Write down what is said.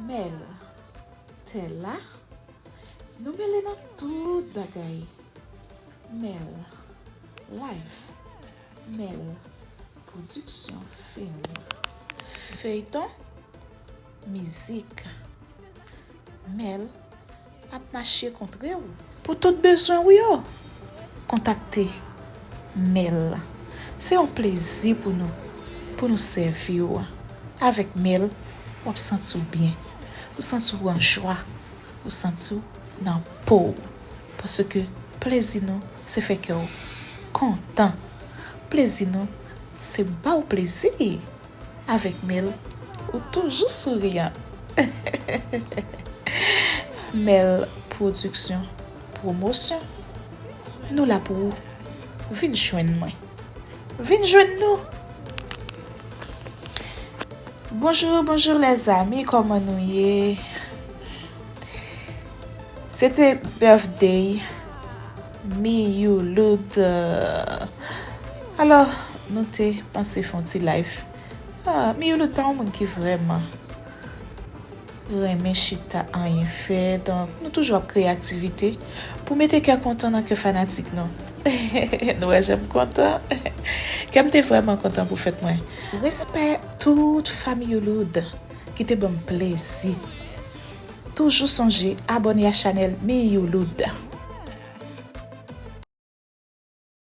Mel. Tella. Nou mele nan tout bagay. Mel. Life. Mel. Production film. Feyton. Mizik. Mel. ap mache kontre w. Pou tout bezwen ou yo, kontakte Mel la. Se yon plezi pou nou pou nou sèvi w. Avèk Mel, w ap santi w byen, ou santi w an jwa, ou santi w nan po w. Paske plezi nou se fè kè w kontan. Plezi nou se ba w plezi. Avèk Mel, ou toujou souriyan! Mel Production Promotion, nou la pou ou! Vin jwenn mwen! Vin jwenn nou! Bonjour bonjour les amis kòman nou ye se te birthday. Miyoulout Alò nou te panse fon ti live Miyoulout pa yon moun ki vrèman renmen chita anyen fè donk nou toujou ap kreye aktivite pou mete kè kontan nan kè fanatik nou Nou wè jan m kontan Kè m te vrèman kontan pou fèt mwen Respè tout fa Miyoulout ki te ban m plezi. Toujou sonje abone a chanel Miyou Loud.